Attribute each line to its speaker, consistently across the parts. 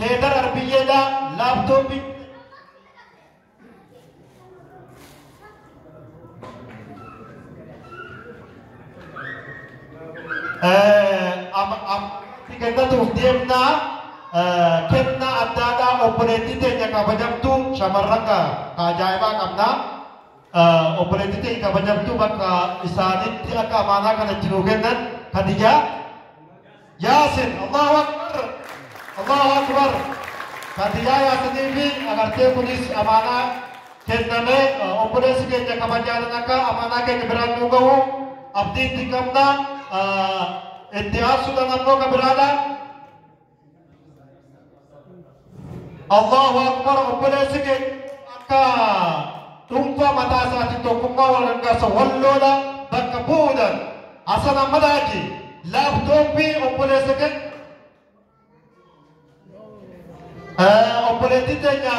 Speaker 1: Heedar Arbiyyeedha laaptooppii. Kennatuuf deemnaa kennaa addaadhaa obboleettii teenya kabajamtu shamarran ka ajaa'ibaa qabna. Obboleettii teenya kabajamtu bakka isaanitti akka amaanaa kana itti nuu kennan Hadijaa. Yaasin Allahu Akbar Allahu Akbar Fatiyaa Yaasanii fi agartee kunis amaanaa kenname obboleessi keenya kabajaan akka amaanaa keenya biraan nu gahu abdii itti qabna itti aansuudhaan ammoo kan biraadhaan Allahu akbar obboleessi keenya akka dhuunfaa mataa isaatiin tokkummaa wal gargaarsa walloola bakka bu'uudhaan Hasan Ahmad Haji laaptooppii obboleessa keenya obboleettii teenya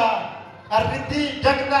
Speaker 1: qarrittii jagna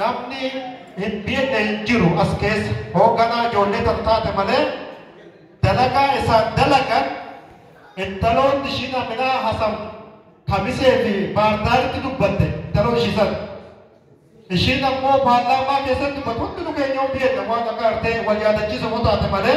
Speaker 1: Namni hin beekne hin jiru as keessa hoogganaa ijoollee tan taate malee dalagaa isaan dalagan intaloonni ishiin Aminaa Hasan Kamisee fi Baardaaritti dubbatte intaloo ishii sana. Ishiin ammoo paarlaamaa keessatti dubbatu hundinuu keenya hin beekne waan akka artee wal yaadachiisa yoo taate malee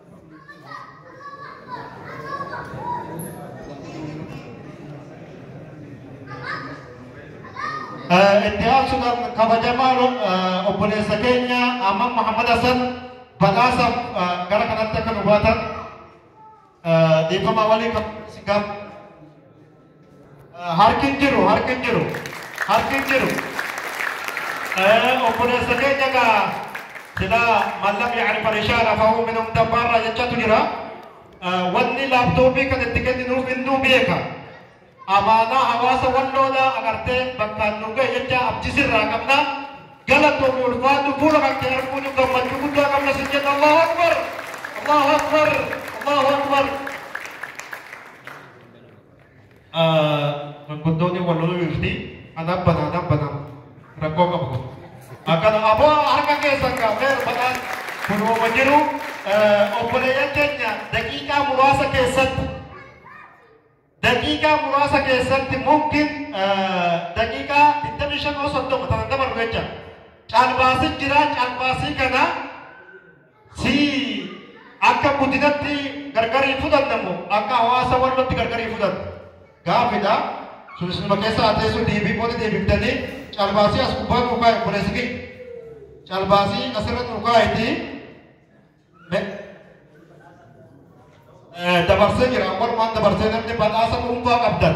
Speaker 1: itti aansuudhaan kabajamaa obboleessa keenya Amman Muhammad Hassan badhaasaaf gara kanatti akka nu baatan dhiifama walii kan si gaafatu. Harki hin jiru harki hin jiru harki hin jiru obboleessa keenya gaa sila man lam yacrif rishaala fahuu min umta baarraa jechatu jira wanni laaptooppii kan itti kenninuuf innuu beeka amaanaa hawaasa walloodha agartee bakkaan nu ga'e jecha abdisirraa qabna galatoomi ulfaatu fuula kan kee arguun gammachuu guddaa qabna sin jenna allahu akbar allahu akbar allahu akbar Gurguddoonni wal loluu dhufti. Anaan bana anaan bana rakkoo qabu. Akkana aboo harka keessan gaafee rubadhaan kun uuma jiru obboleeyyan keenya daqiiqaa muraasa keessatti daqiiqaa muraasa keessatti mumkin daqiiqaa 25 osoo ta'u ta'an dabalu jecha caalbaasii jira caalbaasii kana si akka guddinatti gargar hin fudhanne moo akka hawaasa wallootti gargar hin fudhanne gaafidha sun isinuma keessa haa teessu deebii booda deebiftanii calbaasii as gubbaa nuu kaa'e obboleessi keenya calbaasii asirra nuu kaa'etii me- eh, dabarsee jira walumaan dabarsee namni badhaasa dhuunfaa qabdan